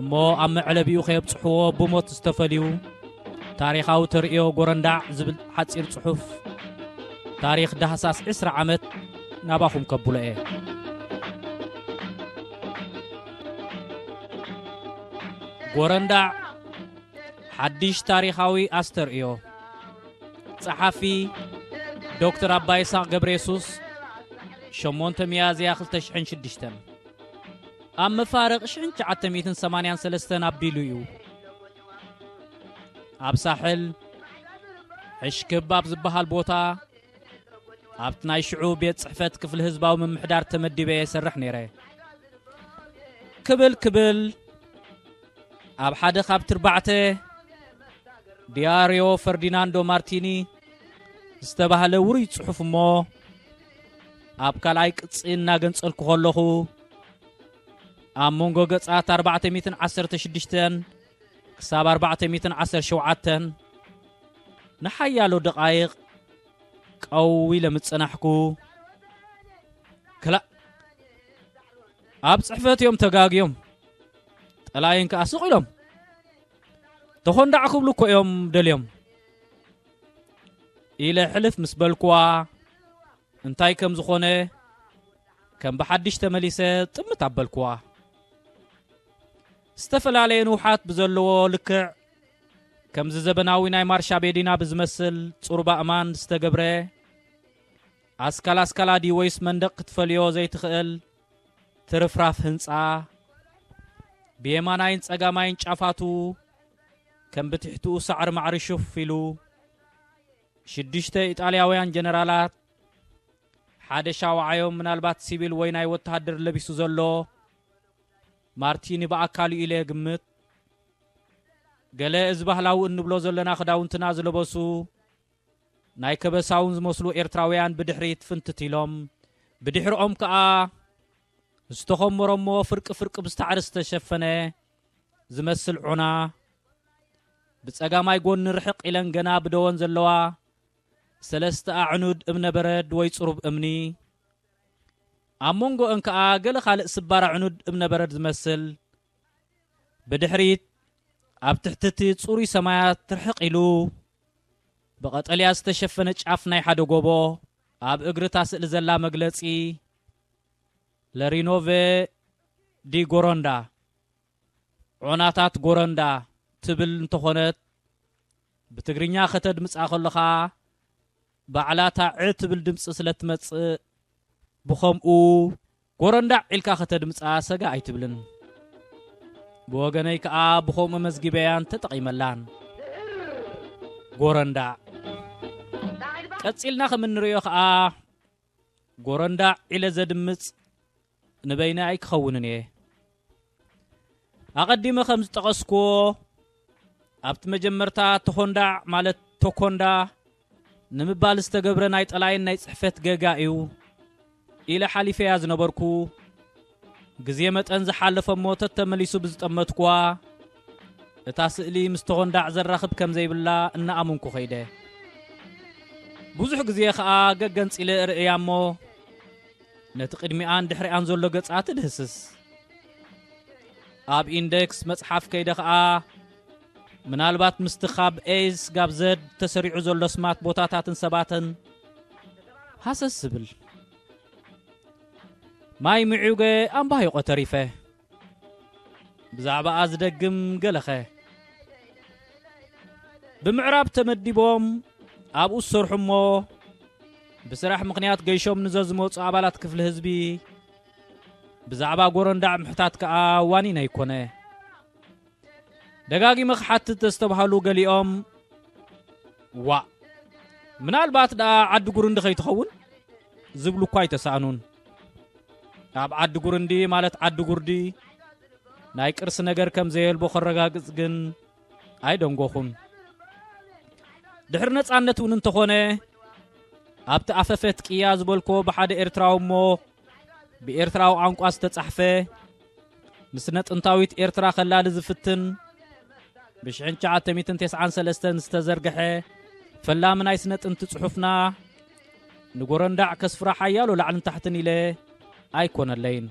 እሞ ኣብ መዕለቢኡ ከየብጽሕዎ ብሞት ዝተፈልዩ ታሪኻዊ ተርእዮ ጎረንዳዕ ዝብል ሓጺር ጽሑፍ ታሪኽ ዳህሳስ 20 ዓመት ናባኹም ከብሎ እየ ጎረንዳዕ ሓድሽ ታሪኻዊ ኣስተርእዮ ጸሓፊ ዶክተር ኣባ ይስቅ ገብረ የሱስ 8 ሚያዝያ 2006 ኣብ መፋርቕ ሽሕን ትሽዓተ ሚእትን ሰማንያን ሰለስተን ኣቢሉ እዩ ኣብ ሳሕል ሕሽክብ ኣብ ዝበሃል ቦታ ኣብቲ ናይ ሽዑ ቤት ጽሕፈት ክፍሊ ህዝባዊ ምምሕዳር ተመዲበ እየ ሰርሕ ነይረ ክብል ክብል ኣብ ሓደ ካብ ትርባዕተ ዲያርዮ ፈርዲናንዶ ማርቲኒ ዝተባህለ ውሩይ ጽሑፍ እሞ ኣብ ካልኣይ ቅጺ እናገንጸልኩ ከለኹ ኣብ መንጎ ገጻት 416 ክሳብ 417 ንሓያሎ ደቓይቕ ቀው ኢለ ምጽናሕኩ ክላእ ኣብ ጽሕፈት እዮም ተጋግዮም ጠላይን ከዓ ስቕ ኢሎም ተኾንዳዕ ክብሉ እኮ እዮም ደልዮም ኢለ ሕልፍ ምስ በልኩዋ እንታይ ከም ዝኾነ ከም ብሓድሽ ተመሊሰ ጥምት ኣበልኩዋ ዝተፈላለየ ንውሓት ብዘለዎ ልክዕ ከምዚ ዘበናዊ ናይ ማርሻ ቤዲና ብዝመስል ጽሩባ እማን ዝተገብረ ኣስካል ኣስካላ ድዩ ወይስ መንደቕ ክትፈልዮ ዘይትኽእል ትርፍራፍ ህንፃ ብየማናይን ጸጋማይን ጫፋቱ ከም ብትሕትኡ ሳዕሪ ማዕሪ ሹፍ ኢሉ ሽዱሽተ ኢጣልያውያን ጀነራላት፣ ሓደ ሻውዓዮም ምናልባት ሲቪል ወይ ናይ ወተሃደር ለቢሱ ዘሎ ማርቲኒ ብኣካል'ዩ ኢለ ግምት ገለ እዚ ባህላዊ እንብሎ ዘለና ክዳውንትና ዝለበሱ ናይ ከበሳውን ዝመስሉ ኤርትራውያን ብድሕሪት ፍንትት ኢሎም ብድሕርኦም ከኣ ዝተኾመሮሞ ፍርቂ ፍርቂ ብዝታዕሪ ዝተሸፈነ ዝመስል ዑና ብጸጋማይ ጎኒ ርሕቕ ኢለን ገና ብደወን ዘለዋ ሰለስተ ኣዕኑድ እምነ በረድ ወይ ጽሩብ እምኒ ኣብ መንጎእን ከኣ ገለ ካልእ ስባር ኣዕኑድ እምነ በረድ ዝመስል ብድሕሪት ኣብ ትሕቲ እቲ ጽሩይ ሰማያት ትርሕቕ ኢሉ ብቐጠልያ ዝተሸፈነ ጫፍ ናይ ሓደ ጎቦ ኣብ እግሪ እታ ስእሊ ዘላ መግለጺ Le Rinove di Goronda፣ ዖናታት ጎረንዳ፣ ትብል እንተኾነት ብትግርኛ ከተድምጻ ከሎኻ ባዕላ እታ ዕ ትብል ድምጺ ስለ እትመጽእ ብኸምኡ ጎረንዳዕ ኢልካ ከተድምጻ ሰጋእ ኣይትብልን። ብወገነይ ከኣ ብኸምኡ መዝጊበያን ተጠቒመላን። ጎረንዳዕ ቀጺልና ከም እንርእዮ ከኣ ጎረንዳዕ ኢለ ዘድምጽ ንበይነይ ኣይክኸውንን እየ። ኣቐዲመ ከም ዝጠቐስኩዎ ኣብቲ መጀመርታ ተኾንዳዕ ማለት ቶኮንዳ ንምባል ዝተገብረ ናይ ጠላይን ናይ ጽሕፈት ገጋ እዩ ኢለ ሓሊፈያ ዝነበርኩ። ግዜ መጠን ዝሓለፈ'ሞ ተተመሊሱ ብዝጠመትኩዋ እታ ስእሊ ምስ ተኾንዳዕ ዘራኽብ ከም ዘይብላ እናኣመንኩ ከይደ። ብዙሕ ግዜ ከኣ ገገንጺለ እርእያ እሞ ነቲ ቅድሚኣን ድሕሪኣን ዘሎ ገጻ ትድህስስ። ኣብ ኢንደክስ መጽሓፍ ከይደ ከኣ ምናልባት ምስቲ ካብ ኤስ ጋብ ዘድ ተሰሪዑ ዘሎ ስማት ቦታታትን ሰባትን ሃሰስ ዝብል ማይ ምዑገ ኣምባሂቆ ተሪፈ ብዛዕባኣ ዝደግም ገለኸ ብምዕራብ ተመዲቦም ኣብኡ ዝሰርሑ እሞ ብስራሕ ምክንያት ገይሾም ንዘዝመፁ ኣባላት ክፍሊ ህዝቢ ብዛዕባ ጎረንዳዕ ምሕታት ከዓ ዋኒን ኣይኮነ ደጋጊመ ክሓትት ዘስተብሃሉ ገሊኦም ዋእ ምናልባት ደኣ ዓዲ ጉርንዲ ከይትኸውን ዝብሉ እኳ ኣይተሳእኑን። ኣብ ዓዲ ጉርንዲ ማለት ዓዲ ጉርዲ ናይ ቅርሲ ነገር ከም ዘየልቦ ከረጋግጽ ግን ኣይደንጎኹን። ድሕሪ ነጻነት እውን እንተኾነ ኣብቲ ኣፈፈት ቅያ ዝበልኮ ብሓደ ኤርትራዊ እሞ ብኤርትራዊ ቋንቋ ዝተጻሕፈ ንስነ ጥንታዊት ኤርትራ ከላሊ ዝፍትን ብ1993 ዝተዘርግሐ ፈላሚ ናይ ስነ ጥንቲ ጽሑፍና ንጎረንዳዕ ከስፍራ ሓያሎ ላዕልን ታሕትን ኢለ ኣይኮነለይን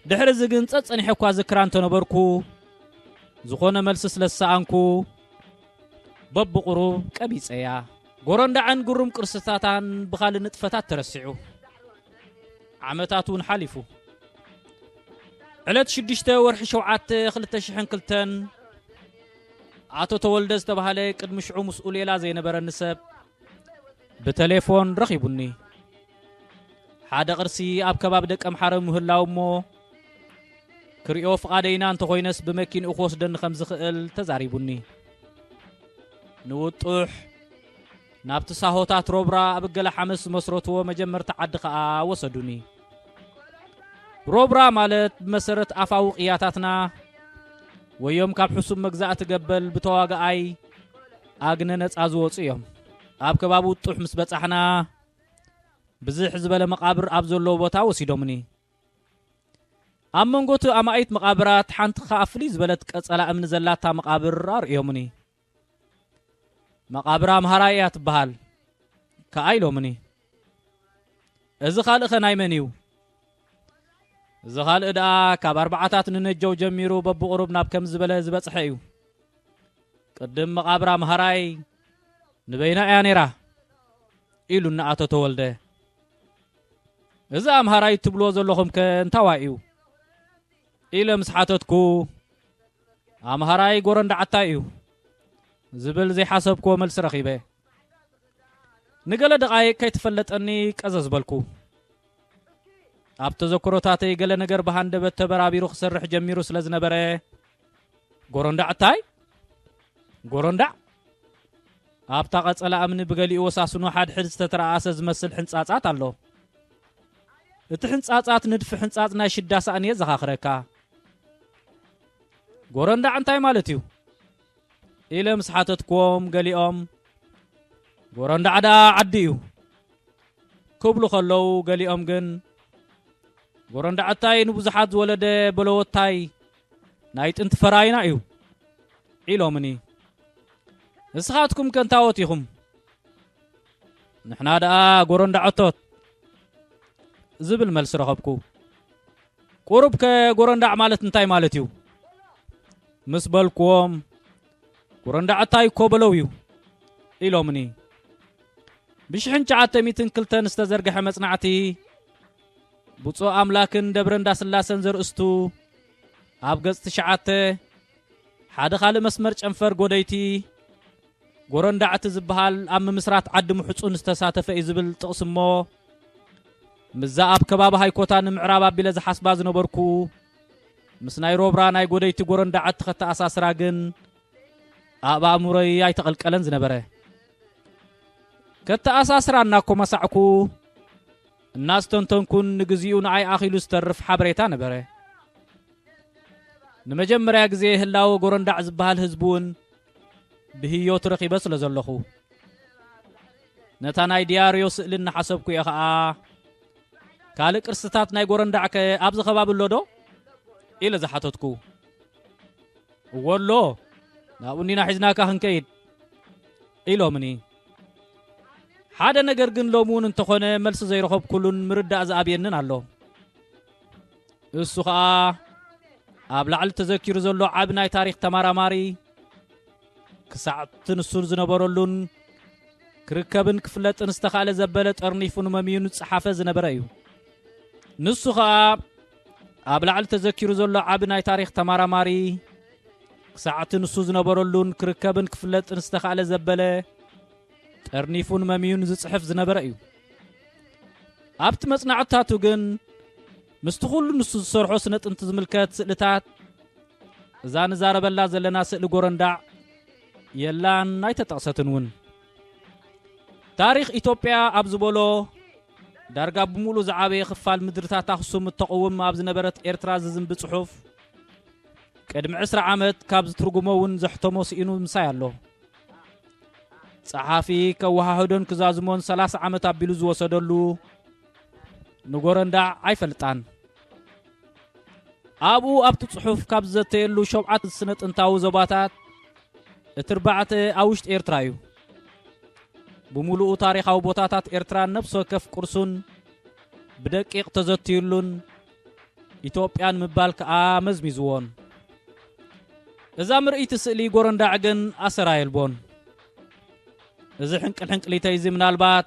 ድሕሪ እዚ ግን ጸጸኒሐ እኳ ዝክራ እንተነበርኩ ዝኾነ መልሲ ስለ ዝሰኣንኩ በብቑሩብ ቀቢጸያ ጎረንዳዕን ግሩም ቅርስታታን ብኻልእ ንጥፈታት ተረሲዑ ዓመታት እውን ሓሊፉ ዕለት ሽዱሽተ ወርሒ ሸውዓተ ክልተ ሽሕን ክልተን ኣቶ ተወልደ ዝተባህለ ቅድሚ ሽዑ ምስኡ ሌላ ዘይነበረኒ ሰብ ብተሌፎን ረኺቡኒ ሓደ ቅርሲ ኣብ ከባቢ ደቀ ምሓረ ምህላው እሞ ክሪኦ ፍቓደይና እንተኾይነስ ብመኪንኡ ክወስደኒ ከም ዝኽእል ተዛሪቡኒ። ንውጡሕ ናብቲ ሳሆታት ሮብራ ኣብ እገለ ሓመስ ዝመስረትዎ መጀመርቲ ዓዲ ከኣ ወሰዱኒ። ሮብራ ማለት ብመሰረት ኣፋዊ ቅያታትና ወዮም ካብ ሕሱም መግዛእቲ ገበል ብተዋጋኣይ ኣግነ ነፃ ዝወፁ እዮም። ኣብ ከባቢ ውጡሕ ምስ በጻሕና ብዝሕ ዝበለ መቓብር ኣብ ዘለዎ ቦታ ወሲዶምኒ። ኣብ መንጎቲ ኣማኢት መቓብራት ሓንቲ ኸኣ ፍልይ ዝበለት ቀጸላ እምኒ ዘላታ መቓብር ኣርእዮምኒ። መቓብር ኣምሃራይ እያ ትበሃል ከኣ ኢሎምኒ። እዚ ካልእኸ ናይ መን እዩ? እዚ ካልእ ደኣ ካብ ኣርባዓታት ንነጀው ጀሚሩ በብቑሩብ ናብ ከም ዝበለ ዝበጽሐ እዩ። ቅድም መቓብር ኣምሃራይ ንበይና እያ ነይራ ኢሉኒ ኣቶ ተወልደ። እዚ ኣምሃራይ እትብልዎ ዘለኹምከ እንታዋይ እዩ? ኢለ ምስ ሓተትኩ፣ ኣምሃራይ ጎረንዳዓታይ እዩ። ዝብል ዘይሓሰብክዎ መልሲ ረኺበ። ንገለ ደቓይቕ ከይተፈለጠኒ ቀዘዝ በልኩ። ኣብ ተዘክሮታተይ ገለ ነገር ብሃንደበት ተበራቢሩ ክሰርሕ ጀሚሩ ስለ ዝነበረ፣ ጎረንዳዕታይ? ጎረንዳዕ? ኣብታ ቀጸላ እምኒ ብገሊኡ ወሳስኑ ሓድሕድ ዝተተረኣኣሰ ዝመስል ሕንጻጻት ኣሎ። እቲ ሕንጻጻት ንድፊ ሕንጻጽ ናይ ሽዳ ሳእኒ የዘኻኽረካ። ጎረንዳዕ እንታይ ማለት እዩ? ኢለ ምስ ሓተትክዎም ገሊኦም ጎረንዳዕ ደኣ ዓዲ እዩ ክብሉ ከለዉ ገሊኦም ግን ጎረንዳዕታይ ንብዙሓት ዝወለደ በለወታይ ናይ ጥንቲ ፈራይና እዩ ዒሎምኒ ንስኻትኩም ከንታወት ኢኹም ንሕና ደኣ ጎረንዳዖቶት ዝብል መልሲ ረኸብኩ ቁሩብ ከ ጎረንዳዕ ማለት እንታይ ማለት እዩ ምስ በልክዎም ጎረንዳዕታይ እኮ በለው እዩ ኢሎምኒ ብሽሕን ሸዓተ ሚትን ክልተን ዝተዘርግሐ መጽናዕቲ ብፁዕ ኣምላክን ደብረ እንዳስላሰን ዘርእስቱ ኣብ ገጽ ትሽዓተ ሓደ ካልእ መስመር ጨንፈር ጎደይቲ ጎረንዳዕቲ ዝበሃል ኣብ ምምስራት ዓዲ ምሕፁን ዝተሳተፈ እዩ ዝብል ጥቕሲ እሞ ምዛ ኣብ ከባቢ ሃይኮታ ንምዕራብ ኣቢለ ዝሓስባ ዝነበርኩ ምስ ናይ ሮብራ ናይ ጎደይቲ ጎረንዳ ዓቲ ከተኣሳስራ ግን ኣብ ኣእምሮይ ኣይተቐልቀለን ዝነበረ ከተኣሳስራ እናኮመሳዕኩ እናስተንተንኩን ንግዚኡ ንኣይ ኣኺሉ ዝተርፍ ሓበሬታ ነበረ። ንመጀመርያ ግዜ ህላወ ጎረንዳዕ ዝበሃል ህዝቢ እውን ብህዮት ረኺበ ስለ ዘለኹ ነታ ናይ ዲያርዮ ስእሊ እናሓሰብኩ እየ ኸኣ ካልእ ቅርስታት ናይ ጎረንዳዕ ከ ኣብዚ ከባቢ ኣሎ ዶ ኢለ ዝሓተትኩ እዎ ኣሎ ናብኡ እንዲና ሒዝናካ ክንከይድ ኢሎምኒ ሓደ ነገር ግን ሎሚ እውን እንተኾነ መልሲ ዘይረኸብኩሉን ምርዳእ ዝኣብየንን ኣሎ እሱ ከዓ ኣብ ላዕሊ ተዘኪሩ ዘሎ ዓብ ናይ ታሪክ ተመራማሪ ክሳዕ እቲ ንሱ ዝነበረሉን ክርከብን ክፍለጥን ዝተኻእለ ዘበለ ጠርኒፉ ንመምዩ ንፀሓፈ ዝነበረ እዩ ንሱ ከዓ ኣብ ላዕሊ ተዘኪሩ ዘሎ ዓቢ ናይ ታሪኽ ተማራማሪ ክሳዕቲ ንሱ ዝነበረሉን ክርከብን ክፍለጥን ዝተኻእለ ዘበለ ጠርኒፉን መምዩን ዝጽሕፍ ዝነበረ እዩ ኣብቲ መጽናዕትታቱ ግን ምስቲ ኩሉ ንሱ ዝሰርሖ ስነ ጥንቲ ዝምልከት ስእልታት እዛ ንዛረበላ ዘለና ስእሊ ጎረንዳዕ የላን ኣይተጠቕሰትን እውን ታሪኽ ኢትዮጵያ ኣብ ዝበሎ ዳርጋ ብምሉእ ዝዓበየ ክፋል ምድርታት ኣኽሱም እተቕውም ኣብ ዝነበረት ኤርትራ ዝዝንቢ ጽሑፍ ቅድሚ ዕስራ ዓመት ካብ ዝትርጉሞ እውን ዘሕተሞ ስኢኑ ምሳይ ኣሎ። ጸሓፊ ከወሃህዶን ክዛዝሞን ሰላሳ ዓመት ኣቢሉ ዝወሰደሉ ንጎረንዳዕ ኣይፈልጣን። ኣብኡ ኣብቲ ጽሑፍ ካብ ዝዘተየሉ ሸውዓት ስነ ጥንታዊ ዞባታት እቲ እርባዕተ ኣብ ውሽጢ ኤርትራ እዩ። ብምሉኡ ታሪኻዊ ቦታታት ኤርትራን ነብሲ ወከፍ ቅርሱን ብደቂቕ ተዘትዩሉን ኢትዮጵያን ምባል ከኣ መዝሚዝዎን። እዛ ምርእይቲ ስእሊ ጎረንዳዕ ግን ኣሰራ የልቦን። እዚ ሕንቅልሕንቅሊተይዚ ምናልባት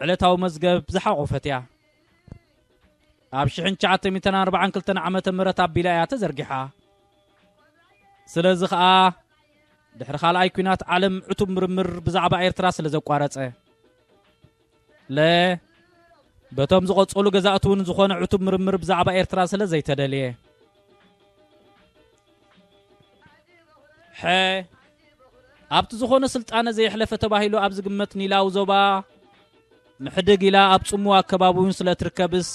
ዕለታዊ መዝገብ ዝሓቖፈት እያ። ኣብ ሽሕን ትሽዓተ ሚእትን ኣርባዓን ክልተን ዓመተ ምህረት ኣቢላ እያ ተዘርጊሓ። ስለዚ ኸኣ ድሕሪ ካልኣይ ኲናት ዓለም ዕቱብ ምርምር ብዛዕባ ኤርትራ ስለ ዘቋረጸ ለ በቶም ዝቐጸሉ ገዛእቲ እውን ዝኾነ ዕቱብ ምርምር ብዛዕባ ኤርትራ ስለ ዘይተደልየ ሐ ኣብቲ ዝኾነ ስልጣነ ዘየሕለፈ ተባሂሉ ኣብ ዝግመት ኒላዊ ዞባ ምሕድግ ኢላ ኣብ ጽሙ ኣከባቢውን ስለ እትርከብስ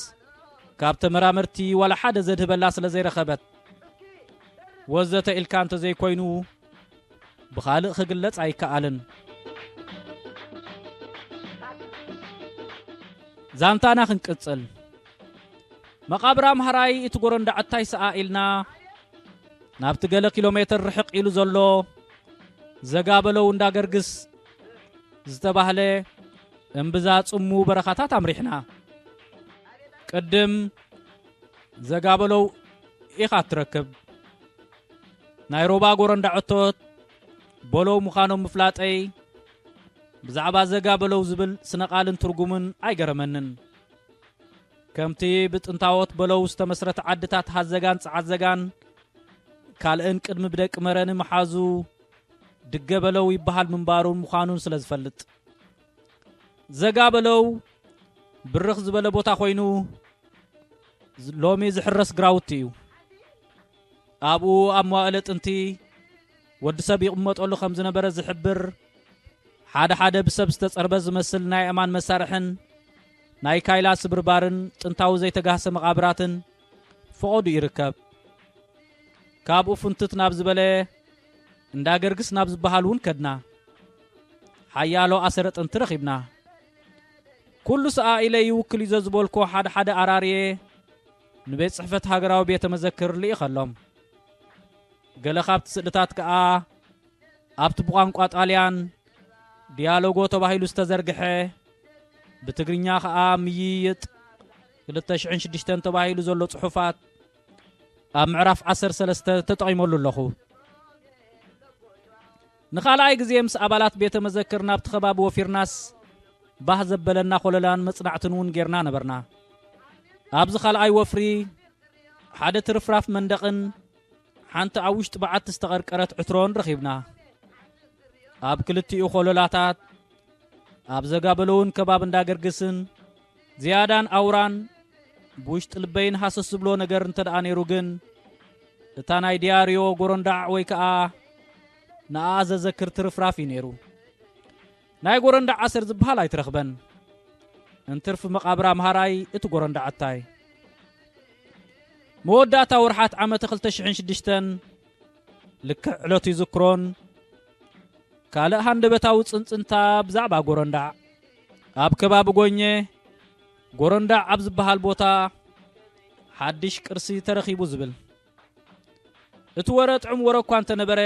ካብ ተመራመርቲ ዋላ ሓደ ዘድህበላ ስለ ዘይረኸበት ወዘተ ኢልካ እንተ ዘይኮይኑ ብኻልእ ክግለጽ ኣይከኣልን ዛንታና ክንቅጽል መቓብር ኣምሃራይ እቲ ጎረንዳዕታይ ሰኣ ኢልና ናብቲ ገለ ኪሎ ሜትር ርሕቕ ኢሉ ዘሎ ዘጋበለው እንዳ ገርግስ ዝተባህለ እምብዛ ጽሙ በረኻታት ኣምሪሕና። ቅድም ዘጋበለው ኢኻ እትረክብ ናይ ሮባ ጎረንዳ ዕቶት በለው ምዃኖም ምፍላጠይ ብዛዕባ ዘጋበለው ዝብል ስነቓልን ትርጉምን ኣይገረመንን። ከምቲ ብጥንታዎት በለው ዝተመስረተ ዓድታት ሃዘጋን ጸዓዘጋን ካልእን ቅድሚ ብደቂ መረኒ መሓዙ ድገ በለው ይበሃል ምንባሩን ምዃኑን ስለ ዝፈልጥ ዘጋ በለው ብርኽ ዝበለ ቦታ ኮይኑ ሎሚ ዝሕረስ ግራውቲ እዩ ኣብኡ ኣብ መዋእለ ጥንቲ ወዲ ሰብ ይቕመጠሉ ከም ዝነበረ ዝሕብር ሓደ ሓደ ብሰብ ዝተጸርበ ዝመስል ናይ እማን መሳርሕን ናይ ካይላ ስብርባርን ጥንታዊ ዘይተጋህሰ መቓብራትን ፈቖዱ ይርከብ። ካብኡ ፍንትት ናብ ዝበለ እንዳ ገርግስ ናብ ዝበሃል እውን ከድና። ሓያሎ ኣሰረ ጥንቲ ረኺብና። ኩሉ ሰኣ ኢለ ይውክል እዩ ዘዝበልኮ ሓደ ሓደ ኣራርየ ንቤት ጽሕፈት ሃገራዊ ቤተ መዘክር ልኢኸሎም። ገለ ካብቲ ስእልታት ከኣ ኣብቲ ብቋንቋ ጣልያን ዲያሎጎ ተባሂሉ ዝተዘርግሐ ብትግርኛ ኸኣ ምይይጥ 2006 ተባሂሉ ዘሎ ጽሑፋት ኣብ ምዕራፍ 13 ተጠቒመሉ ኣለኹ ንኻልኣይ ግዜ ምስ ኣባላት ቤተ መዘክር ናብቲ ከባቢ ወፊርናስ ባህ ዘበለና ኮለላን መጽናዕትን እውን ጌርና ነበርና ኣብዚ ካልኣይ ወፍሪ ሓደ ትርፍራፍ መንደቕን ሓንቲ ኣብ ውሽጢ በዓቲ ዝተቐርቀረት ዕትሮን ረኺብና። ኣብ ክልቲኡ ኮሎላታት ኣብ ዘጋበለውን ከባብ እንዳገርግስን ዝያዳን ኣውራን ብውሽጢ ልበይን ሃሰስ ዝብሎ ነገር እንተ ደኣ ነይሩ ግን እታ ናይ ዲያርዮ ጎረንዳዕ ወይ ከኣ ንኣ ዘዘክር ትርፍራፍ እዩ ነይሩ። ናይ ጎረንዳዕ ኣሰር ዝብሃል ኣይትረኽበን እንትርፍ መቓብር ኣምሃራይ እቲ ጎረንዳዕታይ መወዳእታ ወርሓት ዓመተ ክልተ ሽሕን ሽዱሽተን ልክዕ ዕለቱ ይዝክሮን ካልእ ሃንደበታዊ ጽንጽንታ ብዛዕባ ጎረንዳዕ ኣብ ከባቢ ጎኘ ጎረንዳዕ ኣብ ዝበሃል ቦታ ሓድሽ ቅርሲ ተረኺቡ ዝብል እቲ ወረ ጥዑም ወረ እኳ እንተነበረ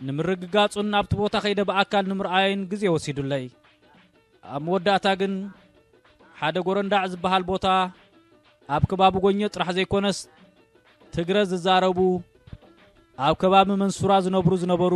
ንምርግጋጹን ናብቲ ቦታ ከይደ ብኣካል ንምርኣይን ግዜ ወሲዱለይ ኣብ መወዳእታ ግን ሓደ ጎረንዳዕ ዝበሃል ቦታ ኣብ ከባቢ ጎኘ ጥራሕ ዘይኮነስ ትግረ ዝዛረቡ ኣብ ከባቢ መንሱራ ዝነብሩ ዝነበሩ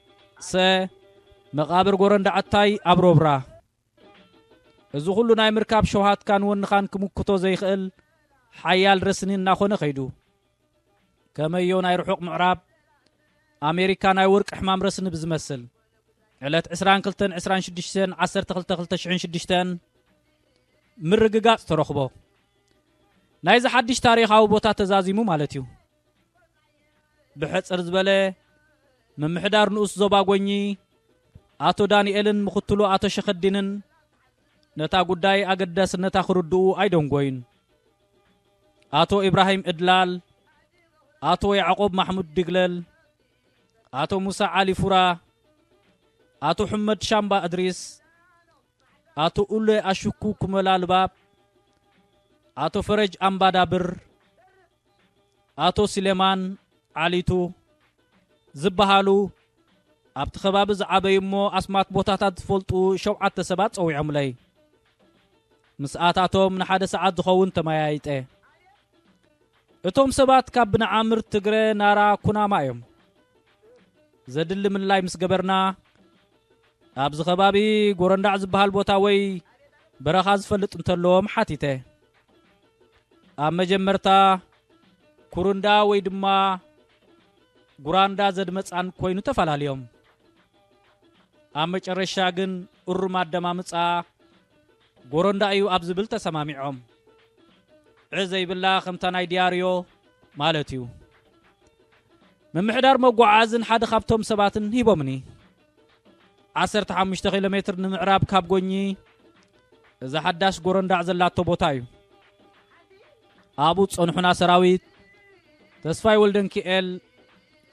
ሰ መቓብር ጎረንዳዕታይ ኣብ ሮብራ። እዚ ኹሉ ናይ ምርካብ ሸውሃትካን ወንኻን ክምክቶ ዘይክእል ሓያል ረስኒ እናኾነ ከይዱ። ከመዮ ናይ ርሑቕ ምዕራብ ኣሜሪካ ናይ ወርቂ ሕማም ረስኒ ብዝመስል ዕለት 22 26 12 2006 ምርግጋጽ ተረኽቦ። ናይዚ ሓድሽ ታሪኻዊ ቦታ ተዛዚሙ ማለት እዩ። ብሕጽር ዝበለ ምምሕዳር ንኡስ ዞባ ጎኚ ኣቶ ዳንኤልን ምክትሉ ኣቶ ሸኸዲንን ነታ ጉዳይ ኣገዳስነታ ክርድኡ ኣይደንጎዩን ኣቶ ኢብራሂም እድላል ኣቶ ያዕቆብ ማሕሙድ ድግለል ኣቶ ሙሳ ዓሊ ፉራ ኣቶ ሕመድ ሻምባ እድሪስ ኣቶ ኡሌ ኣሹኩ ኩመላ ልባብ፣ ኣቶ ፈረጅ ኣምባዳብር፣ ኣቶ ሲሌማን ዓሊቱ ዝበሃሉ ኣብቲ ከባቢ ዝዓበዩ እሞ ኣስማት ቦታታት ዝፈልጡ ሸውዓተ ሰባት ጸዊዖምለይ። ምስኣታቶም ንሓደ ሰዓት ዝኸውን ተመያይጠ። እቶም ሰባት ካብ ብንዓምር ትግረ ናራ ኩናማ እዮም። ዘድሊ ምልላይ ምስ ገበርና ኣብዚ ከባቢ ጎረንዳዕ ዝበሃል ቦታ ወይ በረኻ ዝፈልጥ እንተለዎም ሓቲተ ኣብ መጀመርታ ኩርንዳ ወይ ድማ ጉራንዳ ዘድመፃን ኮይኑ ተፈላለዮም ኣብ መጨረሻ ግን እሩም ኣደማምፃ ጎረንዳ እዩ ኣብ ዝብል ተሰማሚዖም ዕ ዘይብላ ከምታ ናይ ዲያርዮ ማለት እዩ ምምሕዳር መጓዓዝን ሓደ ካብቶም ሰባትን ሂቦምኒ ዓሰርተ ሓሙሽተ ኪሎ ሜትር ንምዕራብ ካብ ጎኚ እዛ ሓዳሽ ጎረንዳዕ ዘላቶ ቦታ እዩ ኣብኡ ጸንሑና ሰራዊት ተስፋይ ወልደንኪኤል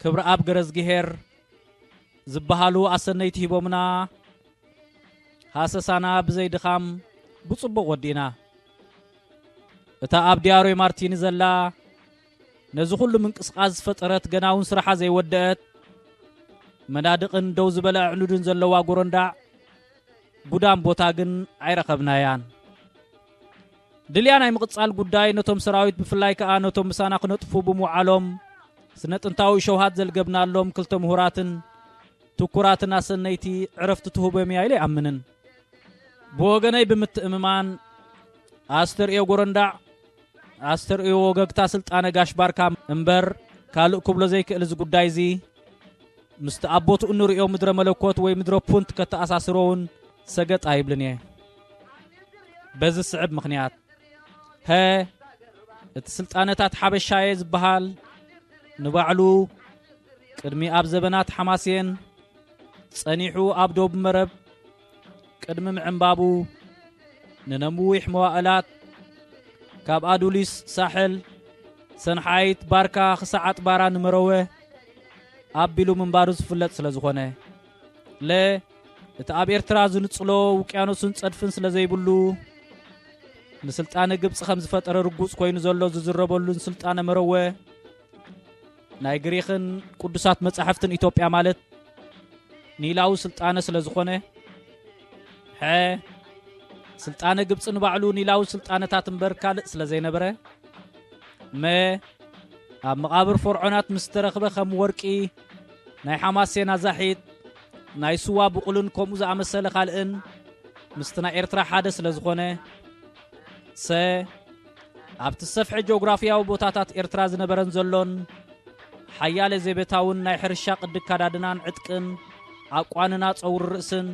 ክብሪ ኣብ ገረዝግሄር ዝበሃሉ ኣሰነይቲ ሂቦምና ሃሰሳና ብዘይ ድኻም ብጽቡቕ ወዲእና እታ ኣብ ዲያሮይ ማርቲኒ ዘላ ነዚ ኩሉ ምንቅስቓስ ዝፈጠረት ገና እውን ስራሓ ዘይወደአት መናድቕን ደው ዝበለ ኣዕኑድን ዘለዋ ጎረንዳዕ ጉዳም ቦታ ግን ኣይረኸብናያን። ድልያ ናይ ምቕጻል ጉዳይ ነቶም ሰራዊት ብፍላይ ከኣ ነቶም ምሳና ክነጥፉ ብምውዓሎም ስነ ጥንታዊ ሸውሃት ዘልገብናሎም ክልተ ምሁራትን ትኩራትን ኣሰነይቲ ዕረፍቲ ትህቦም እያ ኢለ ይኣምንን ብወገነይ ብምትእምማን ኣስተርእዮ ጎረንዳዕ ኣስተርእዮ ወገግታ ስልጣነ ጋሽ ባርካ እምበር ካልእ ክብሎ ዘይክእል እዚ ጉዳይ እዚ ምስቲ ኣብ ቦትኡ እንርእዮ ምድረ መለኮት ወይ ምድረ ፑንት ከተኣሳስሮ እውን ሰገጥ ኣይብልን እየ በዚ ስዕብ ምክንያት ሀ እቲ ስልጣነታት ሓበሻ እየ ዝበሃል ንባዕሉ ቅድሚ ኣብ ዘበናት ሓማስየን ጸኒሑ ኣብ ዶብ መረብ ቅድሚ ምዕንባቡ ንነዊሕ መዋእላት ካብ ኣዱሊስ ሳሕል ሰንሓይት ባርካ ክሳዕ ኣጥባራ ንመረወ ኣቢሉ ምንባሩ ዝፍለጥ ስለ ዝኾነ ለ እቲ ኣብ ኤርትራ ዝንጽሎ ውቅያኖስን ጸድፍን ስለ ዘይብሉ ንስልጣነ ግብፂ ከም ዝፈጠረ ርጉጽ ኮይኑ ዘሎ ዝዝረበሉን ስልጣነ መረወ ናይ ግሪኽን ቅዱሳት መጻሕፍትን ኢትዮጵያ ማለት ኒላዊ ስልጣነ ስለ ዝኾነ ሐ ስልጣነ ግብፂ ንባዕሉ ኒላዊ ስልጣነታት እምበር ካልእ ስለ ዘይነበረ መ ኣብ መቓብር ፈርዖናት ምስ ተረኽበ ከም ወርቂ ናይ ሓማሴና ዛሒት ናይ ስዋ ብቑልን ከምኡ ዝኣመሰለ ካልእን ምስቲ ናይ ኤርትራ ሓደ ስለ ዝኾነ ሰ ኣብቲ ሰፍሒ ጆግራፊያዊ ቦታታት ኤርትራ ዝነበረን ዘሎን ሓያለ ዜቤታውን ናይ ሕርሻ ቅዲ ኣካዳድናን ዕጥቅን ኣቋንና ጸውሪ ርእስን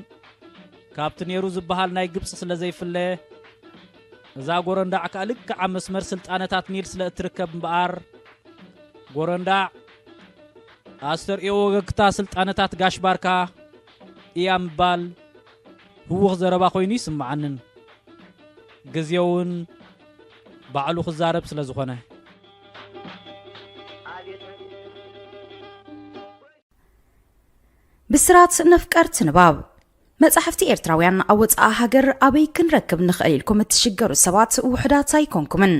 ካብቲ ነይሩ ዝበሃል ናይ ግብጺ ስለ ዘይፍለ እዛ ጎረንዳዕ ከኣ ልክዕ ኣብ መስመር ስልጣነታት ኒል ስለ እትርከብ እምበኣር ጎረንዳዕ ኣስተርእዮ ወገግታ ስልጣነታት ጋሽ ባርካ እያ ምባል ህዉኽ ዘረባ ኮይኑ ይስምዓንን ግዜ ዉን ባዕሉ ክዛረብ ስለ ዝኾነ። ብስራት ነፍቀርቲ ንባብ መጻሕፍቲ ኤርትራውያን ኣብ ወጻኢ ሃገር ኣበይ ክንረክብ ንኽእል ኢልኩም እትሽገሩ ሰባት ውሑዳት ኣይኮንኩምን።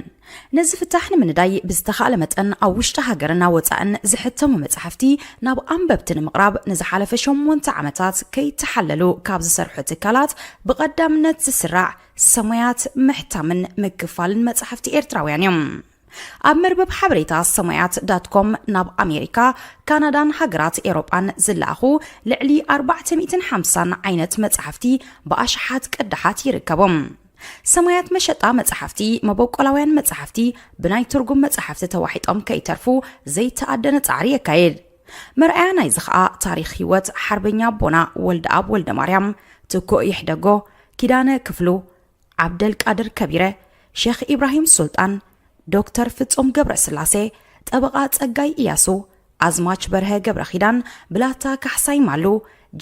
ነዚ ፍታሕ ንምንዳይ ብዝተኻእለ መጠን ኣብ ውሽጢ ሃገርን ኣብ ወጻእን ዝሕተሙ መጻሕፍቲ ናብ ኣንበብቲ ንምቕራብ ንዝሓለፈ ሸሞንተ ዓመታት ከይተሓለሉ ካብ ዝሰርሑ ትካላት ብቐዳምነት ዝስራዕ ሰሙያት ምሕታምን ምክፋልን መጻሕፍቲ ኤርትራውያን እዮም። ኣብ መርበብ ሓበሬታ ሰሙያት ዳት ኮም ናብ ኣሜሪካ፣ ካናዳን ሃገራት ኤውሮጳን ዝለኣኹ ልዕሊ ኣርባዕተ ሚእትን ሓምሳን ዓይነት መጻሕፍቲ ብኣሽሓት ቅዳሓት ይርከቡ። ሰማያት መሸጣ መጻሕፍቲ፣ መበቆላውያን መጻሕፍቲ ብናይ ትርጉም መጻሕፍቲ ተዋሒጦም ከይተርፉ ዘይተኣደነ ጻዕሪ የካይድ። መርኣያ ናይዚ ኸኣ ታሪኽ ህይወት ሓርበኛ ኣቦና ወልደኣብ ወልደማርያም፣ ትኩእ ይሕደጎ፣ ኪዳነ ክፍሉ፣ ዓብደልቃድር ከቢረ፣ ሼኽ ኢብራሂም ሱልጣን፣ ዶክተር ፍጹም ገብረስላሴ፣ ጠበቓ ጸጋይ ኢያሱ፣ ኣዝማች በርሀ ገብረኺዳን፣ ብላታ ካሕሳይ ማሉ፣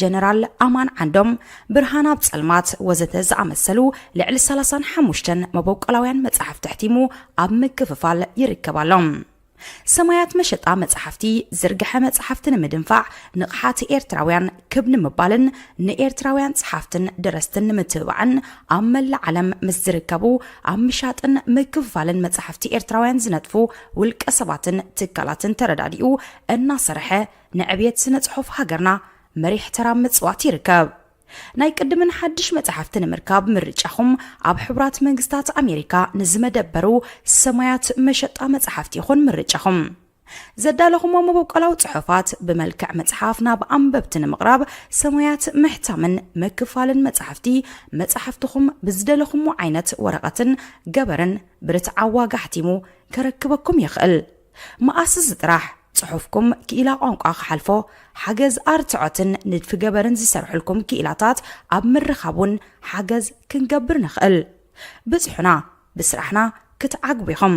ጀነራል ኣማን ዓንዶም፣ ብርሃን ኣብ ጸልማት ወዘተ ዝኣመሰሉ ልዕሊ ሰላሳን ሓሙሽተን መበቆላውያን መጻሕፍቲ ኣሕቲሙ ኣብ ምክፍፋል ይርከብ ኣሎ። ሰማያት መሸጣ መጻሕፍቲ ዝርግሐ መጻሕፍቲ ንምድንፋዕ ንቕሓት ኤርትራውያን ክብ ንምባልን ንኤርትራውያን ጸሓፍትን ደረስትን ንምትብባዕን ኣብ መላእ ዓለም ምስ ዝርከቡ ኣብ ምሻጥን ምክፍፋልን መጻሕፍቲ ኤርትራውያን ዝነጥፉ ውልቀ ሰባትን ትካላትን ተረዳዲኡ እናሰርሐ ንዕብየት ስነ ጽሑፍ ሃገርና መሪሕ ተራ ኣብ ምጽዋት ይርከብ። ናይ ቅድምን ሓድሽ መጻሕፍቲ ንምርካብ ምርጫኹም ኣብ ሕቡራት መንግስታት ኣሜሪካ ንዝመደበሩ ሰማያት መሸጣ መጻሕፍቲ ይኹን ምርጫኹም። ዘዳለኹሞ መበቆላዊ ጽሑፋት ብመልክዕ መጽሓፍ ናብ ኣንበብቲ ንምቕራብ ሰማያት ምሕታምን ምክፋልን መጻሕፍቲ መጻሕፍትኹም ብዝደለኹሞ ዓይነት ወረቐትን ገበርን ብርትዓዊ ዋጋ ኣሕቲሙ ከረክበኩም ይኽእል። መኣስስ ጥራሕ ጽሑፍኩም ክኢላ ቋንቋ ክሓልፎ ሓገዝ ኣርትዖትን ንድፊ ገበርን ዝሰርሕልኩም ክኢላታት ኣብ ምርኻብ እውን ሓገዝ ክንገብር ንኽእል። ብጽሑና ብስራሕና ክትዓግቡ ኢኹም።